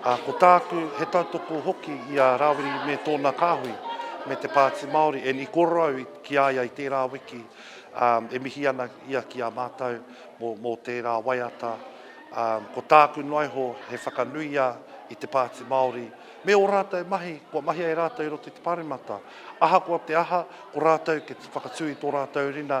Ā, ko tāku, he tautoko hoki i a Rawiri me tōna kāhui, me te Pāti Māori, and i korou ki a ia i tērā wiki, ā, e mihi ana ia ki a mātou mō, mō tērā waiata. Ā, ko tāku noa iho, he whakanuia i te Pāti Māori, me ō rātou mahi kua mahia e rātou i roto i te Pāremata. Ahakoa te aha, ko rātou kia whakatū i tō rātou rina,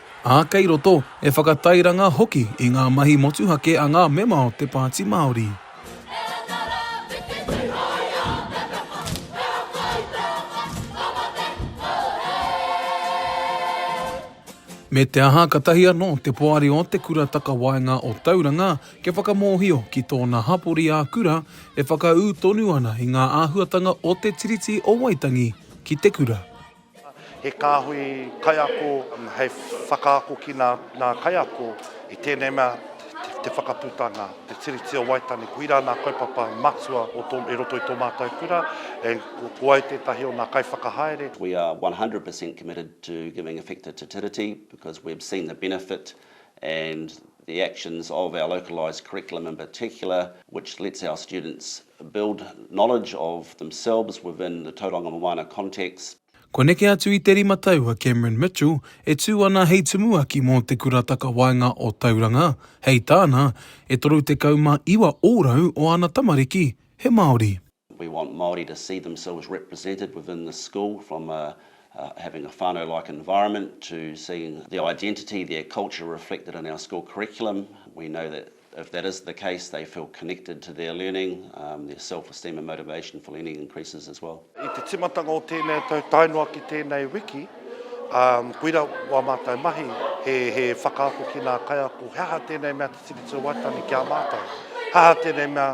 ā, kei roto, e whakatairanga hoki i ngā mahi motuhake a ngā mema o te Pāti Māori. Me te aha, katahi anō te poari o Te Kura Takawaenga o Tauranga kia whakamōhio ki tōna hapori ā-kura e whakaū tonu ana i ngā āhuatanga o Te Tiriti o Waitangi ki te kura. He kāhui kaiako hei whakaako ki ngā kaiako i tēnei mea te whakaputanga, te Tiriti o Waitangi. Koirā ngā kaupapa matua i roto i tō mātou kura, ko au tētahi o ngā kaiwhakahaere. We are 100% committed to giving effect to Te Tiriti because we've seen the benefit and the actions of our localised curriculum in particular which lets our students build knowledge of themselves within the Tauranga Moana context. Kua neke atu i te rima tau a Cameron Mitchell e tū ana hei tumuaki mō Te Kura Takawaenga o Tauranga, hei tāna, e 39 ōrau o ana tamariki he Māori. We want Māori to see themselves represented within the school from a having a whānau like environment to seeing their identity, their culture reflected in our school curriculum. We know that if that is the case they feel connected to their learning, their self-esteem and motivation for learning increases as well. I te timatanga o tēnei tau tae noa ki tēnei wiki, koira wā mātou mahi he whakaako ki nā kaiako he aha tēnei mea te Tiriti o Waitangi ki a mātou, he aha tēnei mea